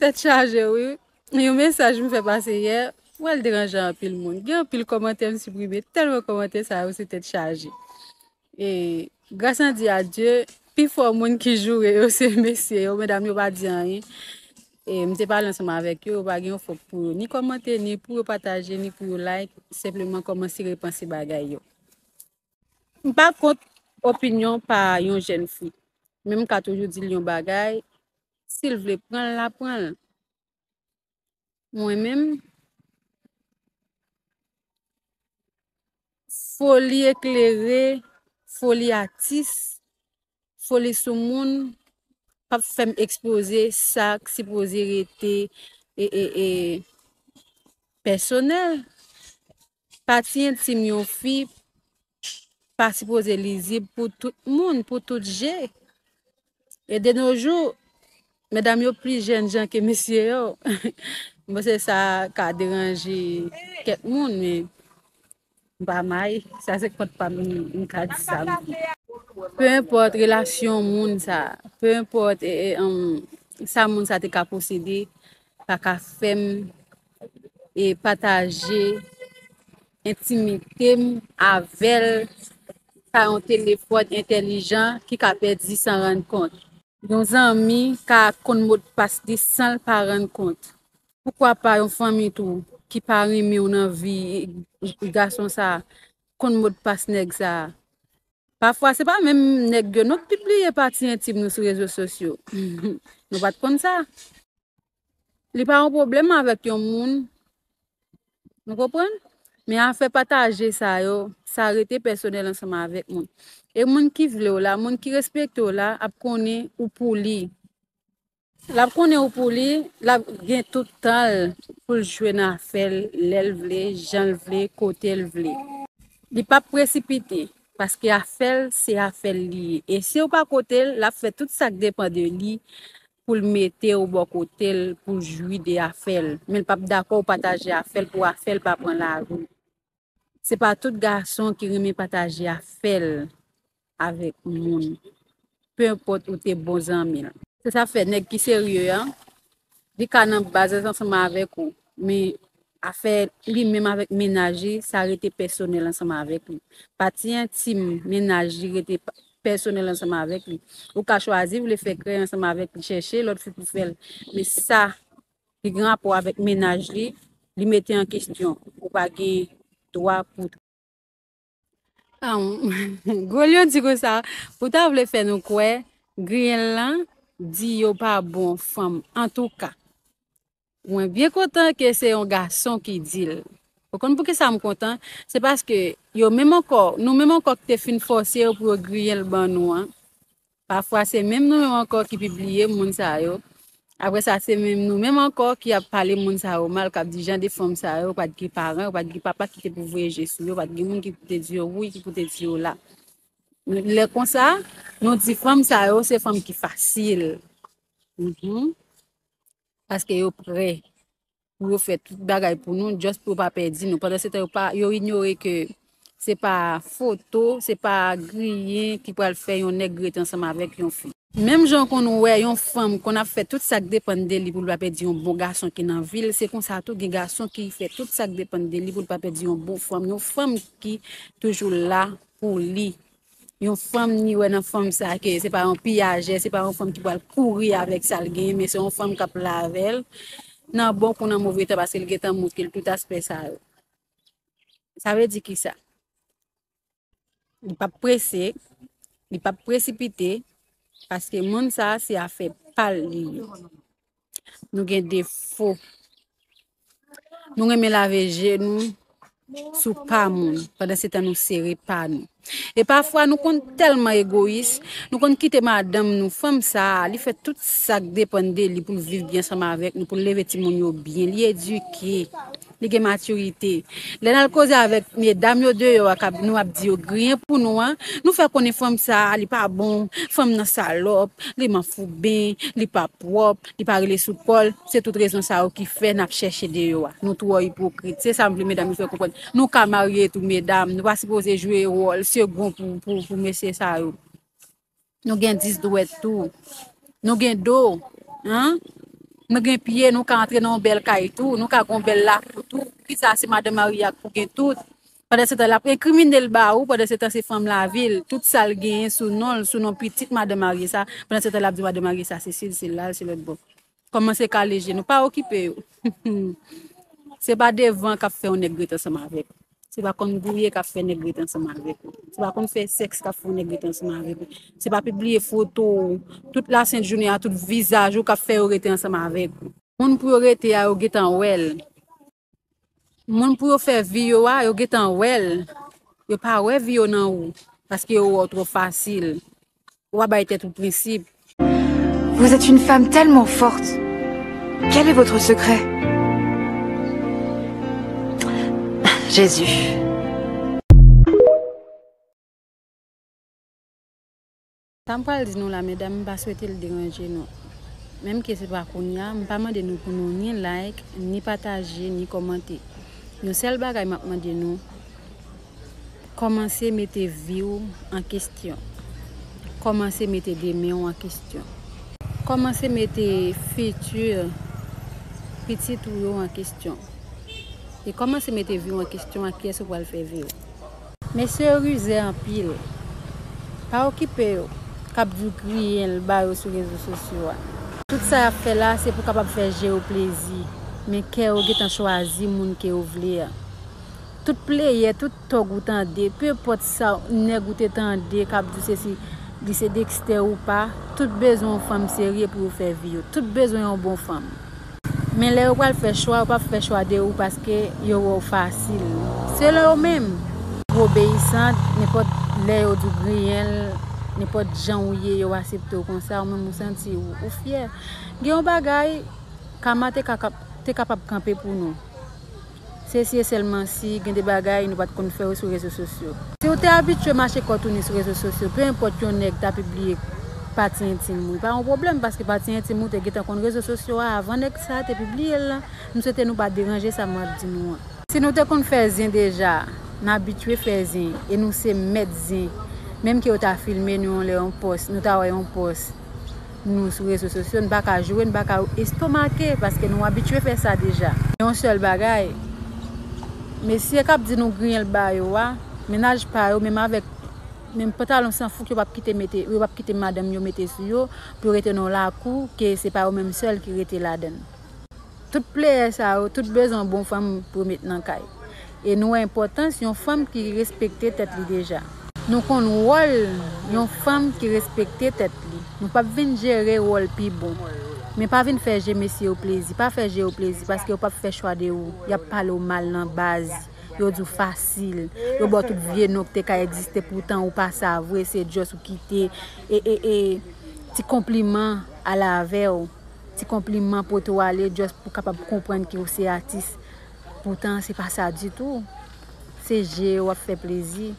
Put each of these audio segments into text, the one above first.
Tèt chaje wi, yon mesaj m fè pase yè, m wè l deranje anpil moun. Gen anpil kòmantè m siprime, tèlman kòmantè sa yo se tèt chaje. E gras an di a Dye, pi fò moun ki joure yo se mesye yo, medam yo pa di anyen. E m te pale ansanm avèk yo, yo pa gen yon fòk pou yo ni kòmante, ni pou yo pataje, ni pou yo like, senpleman kòmanse repanse bagay yo. M pa kont opinyon pa yon jèn fi, men m ka toujou di l yon bagay, Sil vle pran la pran. Mwen menm foli eklere, foli atis, foli sou moun pap fèm ekspoze sak si poze rete e e e pèsonèl. Pati entim yon fi pa sipoze lizib pou tout moun, pou tout je. E de no jou, medam yo pli jèn jan ke mesye yo. Mwen se sa ka deranje kèk moun, men ba may, sa se kont pa m ka di sa. Pe import relasyon moun sa, pe import sa moun sa te ka posede, pa ka fèm. e pataje entimite m avè l pa yon telefòn entèlijan ki ka pèdi san rann kont. Yon zanmi ka konn modpas li san l pa rann kont. Poukwa pa yon fanmi tou ki pa renmen w nan vi gason sa konn modpas nèg sa. Pafwa se pa menm nèg yo non k pibliye pati entim nou sou rezo sosyo. Nou pa t konn sa? Li pa yon pwoblèm avèk yon moun. Nou konprann? Men afè pataje sa yo, sa rete pèsonèl ansanm avèk mwen. E moun ki vle w la, moun ki respekte w la, ap konnen ou pou li. L ap konnen ou pou li, l ap gen tout tan l pou l jwe nan afè l, lè l vle, jan l vle, kote l vle. Li p ap presipite, paske afè l se afè l li ye. E si w pa kote l, l ap fè tout sa k depan de li pou l mete w bò kote l pou w jwi de afè l, men l pap dakò w pataje afè l pou afè l pa pran lari w. Se pa tout gason ki renmen pataje afè l avèk moun, peu enpòt ou te bon zanmi l. Se sa k fè nèg ki serye an, li ka nan baz ansanm avèk ou, men Afè li menm avèk mennaj li, sa rete pèsonèl ansanm avèk li. Pati entim mennaj li rete pèsonèl ansanm avèk li. Ou ka chwazi vle fè krèy ansanm avèk li, chèche lòt fi pou fè l, men sa ki gen rapò avèk mennaj li, li mete an kestyon. Ou pa gen dwa pou. Gwo lyon di konsa, ou ta vle fè nou kwè griyen lan di yo pa bon fanm antouka. Mwen byen kontan ke se yon gason ki di l. Ou konn pou ki sa m kontan? Se paske yo menm ankò, nou menm ankò ki te fin fòse yo pou yo griyen l ban nou an, Pafwa se menm nou menm ankò ki pibliye moun sa yo, aprè sa se menm nou menm ankò ki ap pale moun sa yo mal, k ap di jan de fanm sa yo pa t gen paran yo, pa t gen papa ki te pou voye je sou yo, pa t gen moun ki pou te di yo wi, ki pou te di yo la. Lè konsa, nou di fanm sa yo se fanm ki fasil, paske yo pre. pou yo fè tout bagay pou nou, just pou yo pa pèdi nou. Pandan se tan yo pa, yo inyore ke se pa foto, se pa griyen ki pral fè yon nèg rete ansanm avèk yon fi. Menm jan w konn wè yon fanm konn ap fè tout sa k depann de li pou li pa pèdi yon bon gason ki nan vi l, se konsa tou gen gason ki fè tout sa k depann de li pou li pa pèdi yon bon fanm, yon fanm ki toujou la pou li. Yon fanm ni wè nan fanm sa ke se pa yon piyajè, se pa yon fanm ki pral kouri avèk sa l genyen, men se yon fanm k ap la avè l, nan bon kou nan move tan, paske l gen tan montre l tout aspè sa yo. Sa vle di ki sa? Li p ap prese, li p ap presipite, paske moun sa a se afè pa l li ye. Nou gen defo. Nou renmen lave je nou sou pa moun. Padan se tan nou sere pa nou. E pafwa nou konn telman egoyis, nou konn kite madanm nou, fanm sa a, li fè tout sak depann de li pou l viv byen ansanm avèk nou, pou l leve timoun yo byen, li edike. Li gen maturite. Lè nal koze avèk medam yo deyò a kap nou ap di yo griyen pou nou an, nou fè konnen fanm sa li pa bon, fanm nan salòp, li manfouben, li pa pwòp, li pa rele sou kòl, se tout rezon sa yo ki fè nap chèche deyò a. Nou twò ipokrit. Se sam vle medam yo fè konprann. Nou ka marye tou medam, nou pa sipoze jwe wòl segon pou mesye sa yo. Nou gen 10 dwèt tou. Nou gen do. An? Nou gen pye, nou ka antre nan yon bèl kay tou. Nou ka gen yon bèl lakou tou. Ki sa se madan marye a k pou gen tout. Pandan se tan l ap enkrimine l ba ou, pandan se tan se fanm lavi l. Tout sa l genyen sou non l, sou non pitit madan marye sa. Pandan se tan l ap di madan marye sa se si l, se la l, se lòtbò. Komanse kale je nou, pa okipe yo. Se pa devan kap fè yon nèg ret ansanm avèk ou. Se pa konn gouye kap fè nèg ret ansanm avèk ou. Se pa konn fè sèks kap fè yon nèg ret ansanm avèk ou. Se pa pibliye foto ou, tout lasent jounen an, tout vizaj ou kap fè yo rete ansanm avèk ou. Moun pou yo rete a yo gentan wèl. Moun pou yo fè vi yo a, yo getan wèl. Yo pa wè vi yo nan ou. Paske yo wè w twò fasil. Ou pa bay tèt ou prensip. Vous êtes une femme tellement forte. Quel est votre secret? Jésus. Sa m pral di nou la medam m pa swete l deranje nou menm ke se pa kounya m pa mande nou pou nou ni like ni pataje ni kòmante yon sèl bagay map mande nou kòmanse mete vi w an kestyon kòmanse mete demen w an kestyon kòmanse mete fiti pitit ou yo an kestyon e kòmanse mete vi w an kestyon ak kiyès ou pral fè vi w. Mesye yo rize anpil. Pa okipe yo kap diw griyen l ba yo sou rezo sosyo a. Tout sa yap fè la se pou kapab fè je yo plezi men kè yo gentan chwazi moun ke yo vle a. Tout pleyè tout tòg ou tande peu pòt sa nèg ou te tande kap diw sesi li se Dexter ou pa tout bezwen yon fanm serye pou yo fè vi yo tout bezwen yon bon fanm. Men lè yo pral fè chwa yo pap fè chwa de ou paske yo wè ou fasil. Selon yo menm, ou obeyisant, nenpòt lè yo di w griyen l, nenpòt jan ou ye yo asepte w konsa, ou menm ou santi ou fyè. Gen yon bagay, Kama te kapab kanpe pou nou. Se si e sèlman si, gen de bagay nou pa t konn fè yo sou rezo sosyo. Si ou te abitye mache kò tounen sou rezo sosyo, pe enpòt yon nèg ta pibliye pati entim ou, li pa yon pwoblèm paske pati entim ou te gentan konn rezo sosyo a avan nèg sa a te pibliye l lan. M swete nou pa deranje sa mwen ap di nou an. Si nou te konn fè zen deja, n abitye fè zen e nou se mèt zen, menm ke yo ta filme nou yon lè yon pòs, nou ta wè yon pòs nou sou rezo sosyo n pa ka jwe n pa ka estomake paske nou abitye fè sa deja. Gen yon sèl bagay mesye kap di nou griyen l ba yo a mennaj pa yo menm avèk menm pantalon san fouk yo pap kite mete yo pap kite madanm yo mete sou yo pou yo rete nan yon lakou ke se pa yo menm sèl ki rete ladann. Tout playè sa yo tout bezwen bon fanm pou met nan kay. E nou wè enpòtans yon fanm ki respekte tèt li deja. Nou konn wòl yon fanm ki respekte tèt li. Nou pap vin jere wòl pi bon. Men pa vin fè je mesye yo plezi. Pa fè je yo plezi paske yo pap fè chwa de ou. Yap pale w mal nan baz. Yo di w fasil. Yo ba w tout vye non ki te ka egziste poutan ou pa sa vre se just ou kite e e e ti konpliman ale avè w. Ti konpliman poto ale just pou kapab konprann ke ou se atis poutan se pa sa ditou. Se je yo wap fè plezi.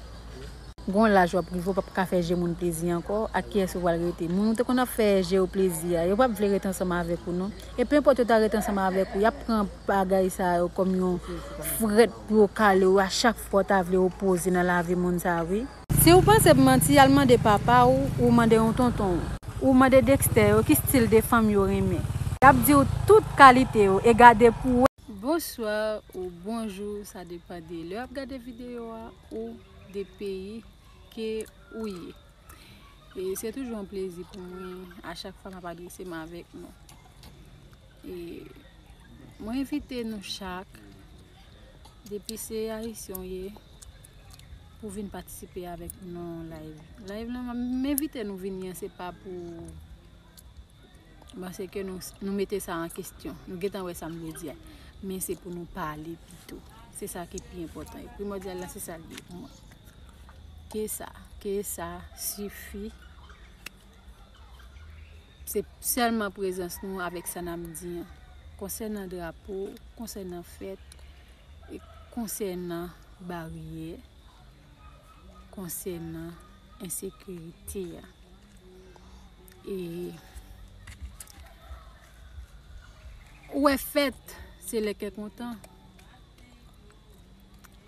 Gon laj wap rive ou pap ka fè je moun plezi ankò, ak kiyès ou pral rete? Moun ou te konn ap fè je yo plezi a, yo pap vle ret ansanm avèk ou non. E pe enpòt yo ta ret ansanm avèk ou, yap pran bagay sa yo kòm yon frèt pou yo kale ou a chak fwa ou ta vle opoze nan lavi moun sa wi. Si ou panse m manti al mande papa w ou mande yon tonton w. Ou mande Dexter yo ki stil de fanm yo renmen. Yap diw tout kalite yo e gade pou w. Bonsoir ou bonjou sa depan de lè wap gade video a ou de peyi ke ou ye e se toujou yon plezi pou mwen a chak fwa map adrese m avek nou e mwen envite nou chak Depi se ayisyen w ye pou vin patisipe avèk nou nan yon layv. Layv lan m envite nou vini an se pa pou panse ke nou mete sa an kestyon. Nou gentan wè sa m vle di a. Men se pou nou pale pito. Se sa ki pi enpòtan. E primòdyal la se sa l ye pou mwen. Ke sa, ke sa sifi. Se sèlman prezans nou avèk sa n ap di an, konsènan drapo, konsènan fèt, e konsènan baryè, konsènan ensekirite a. E ou wè fèt se lè kè kontan,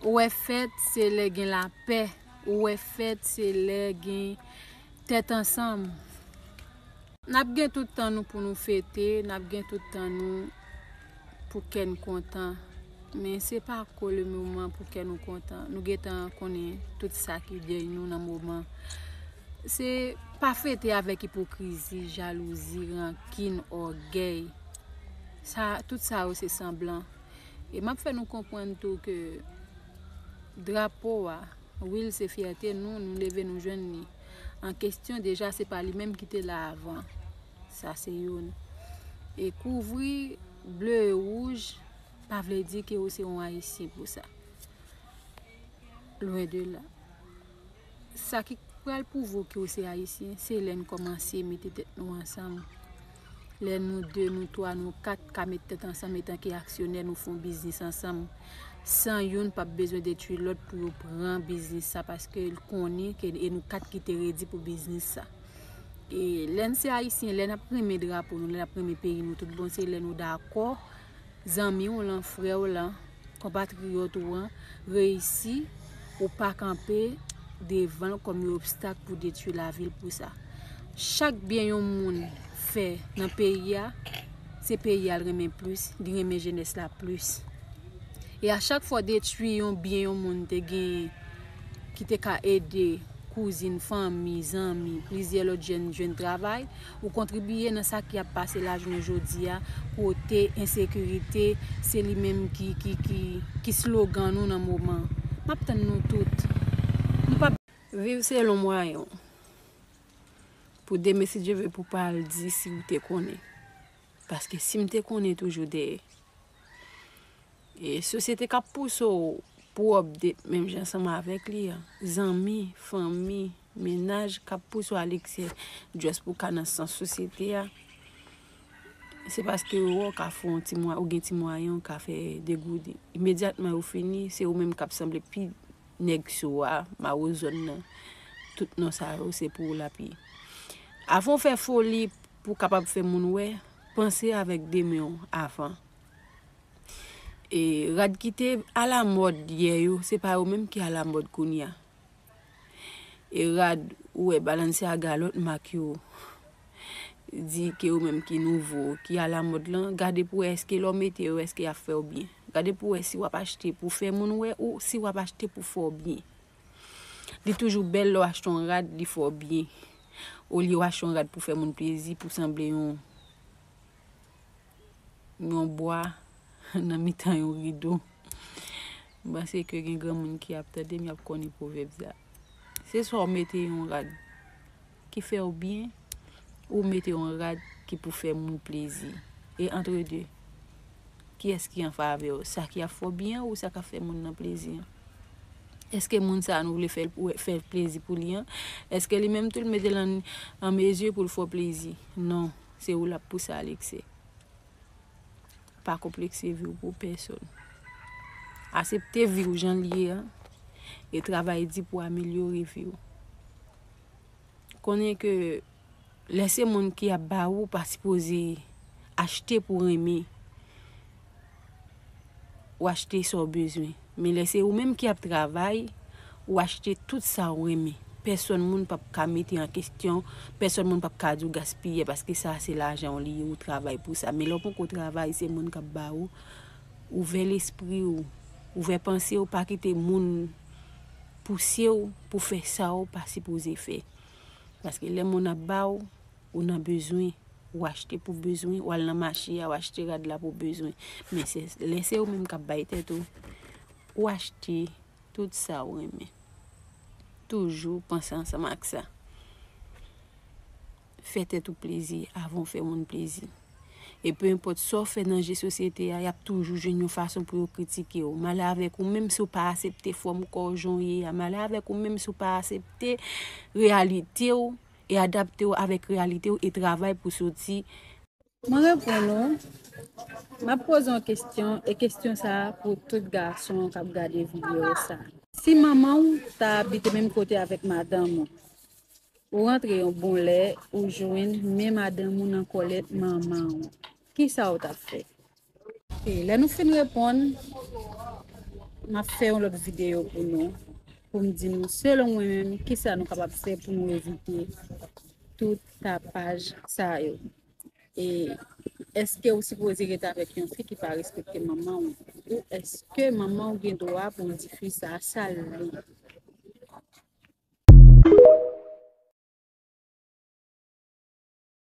ou wè fèt se lè gen lapè, ou wè fèt se lè gen. Tèt ansanm. N ap gen tout tan nou pou nou fete, n ap gen tout tan nou pou kè n kontan. Men se pa ko le moman pou kè nou kontan. Nou gen tan konnen tout sa ki dèy nou nan moman. Se pa fete avèk ipokrizi, jalouzi, rankin, ògèy. Sa, tout sa yo se sanblan. E m ap fè nou konprann tou ke drapo a. Wi l se fyète nou, nou leve nou jwenn li an kestyon deja se pa li menm ki te la avan sa se youn e kouvri ble e wouj pa vle di ke ou se yon ayisyen pou sa lwen de la sa ki pral pouvo ke ou se ayisyen se lè n kòmanse mete tèt nou ansanm Lè nou 2, nou 3, nou 4 ka met tèt ansanm etanke aksyonè nou fon biznis ansanm san youn pap bezwen detwi lòt pou yo pran biznis sa paske l konnen ke e nou 4 ki te redi pou biznis sa. E lè n se ayisyen, lè nap renmen drapo nou, lè nap renmen peyi nou tout bon se lè nou dakò zanmi w lan, frè w lan, Konpatriyòt ou an reyisi ou pa kanpe devan l kòm yon obstak pou detui lavi l pou sa. Chak byen yon moun fè nan peyi a, se peyi a l renmen plis, li renmen jenès la plis. E a chak fwa w detui yon byen yon moun te genyen ki te ka ede kouzin, fanmi, zanmi, plizyè lòt jèn jwenn travay, Ou kontribiye nan sa ki ap pase la jounen jodi a kote ensekirite se li menm ki slogan nou nan moman. M ap tann nou tout. Nou pa. Viv selon mwayen w. Pou demen si Dye ve pou pa al di si ou te konnen. Paske si m te konnen toujou dèyè. E sosyete k ap pouse w pou w update menm jan ansanm avèk li an. Zanmi, fanmi. Mennaj kap pouse Alexis just pou ka nan sans sosyete a, se paske yo wè w ka fè yon ti mwa, ou gen ti mwayen ou ka fè degode. Imedyatman yo fini, se ou menm kap sanble pi nèg so a, maro zòn nan, tout non sa yo se pou ou lap ye. Avan ou fè foli pou w kapab fè moun wè, panse avèk de men w avan. E rad kite alamòd yè yo, se pa yo menm ki alamòd kounya. E rad ou wè Balenciaga lòt mak yo di ke yo menm ki nouvo, ki alamòd lan, gade pou wè èske lè w mete yo èske y ap fè w byen. Gade pou wè si w ap achte pou fè moun wè ou si w ap achte pou fè w byen. Li toujou bèl lè w achte yon rad li fè w byen. Olye w achte yon rad pou fè moun plezi, pou w sanble yon. yon bwa nan mitan yon rido. M panse ke gen granmoun ki ap tande m y ap konnen pwovèb sa. Se swa ou mete yon rad ki fè ou byen ou mete yon rad ki pou fè moun plezi. E antre de, kiyès ki an favè ou? Sa ki ap fè w byen ou sa k ap fè moun nan plezi an? Èske moun sa a nou vle fè l plezi pou li an, èske li menm tou l mete l an mezi pou l fè w plezi? Non. Se ou lap pouse Alexe. Pa konplekse viw pou pèsòn. Asepte viw janl ye a e travay di pou amelyore viw. Konnen ke lè se moun ki ap ba ou pa sipoze achte pou renmen. ou achte sa w bezwen. Men lè se ou menm ki ap travay, ou achte tout sa ou renmen. Pèsòn moun p ap ka mete an kesyon, pèsòn moun p ap ka di w gaspiyè paske sa a se lajan w li ye, ou travay pou sa. Men lè w poko travay, se moun k ap ba ou. Ouvè lespri ou, ouvè panse ou, pa kite moun pouse ou pou fè sa ou pa sipoze fè. Paske lè moun ap ba ou. Ou nan bezwen, ou achte pou bezwen, ou al nan mache a, ou achte rad la pou bezwen. Men se, lè se ou menm kap bay tèt ou, ou achte tout sa ou renmen. Toujou panse ansanm ak sa. Fè tèt ou plezi avan ou fè moun plezi. E pe enpòt sa ou fè nan je sosyete a, yap toujou jwenn yon fason pou yo kritike ou. Malè avèk ou menm si ou pa asepte fòm kò ou jan ou ye a. Malè avèk ou menm si ou pa asepte reyalite ou. e adapte w avèk reyalite w e travay pou soti. Mwen reponn ou, map poze yon kestyon e kestyon sa pou tout gason kap gade video sa. Si manman w ta abite menm kote avèk madanm ou, ou rantre yon bon lè ou jwenn men madanm ou nan kòlèt manman w, kisa ou tap fè? Ok, lè nou fin reponn, m ap fè yon lòt videyo pou nou, pou m di nou selon mwen menm ki sa nou kapab fè pou nou evite tout tapaj sa yo. E eske ou sipoze ret avèk yon fi ki pa respekte manman ou? Ou eske manman ou gen dwa pou l di fi sa sa l vle?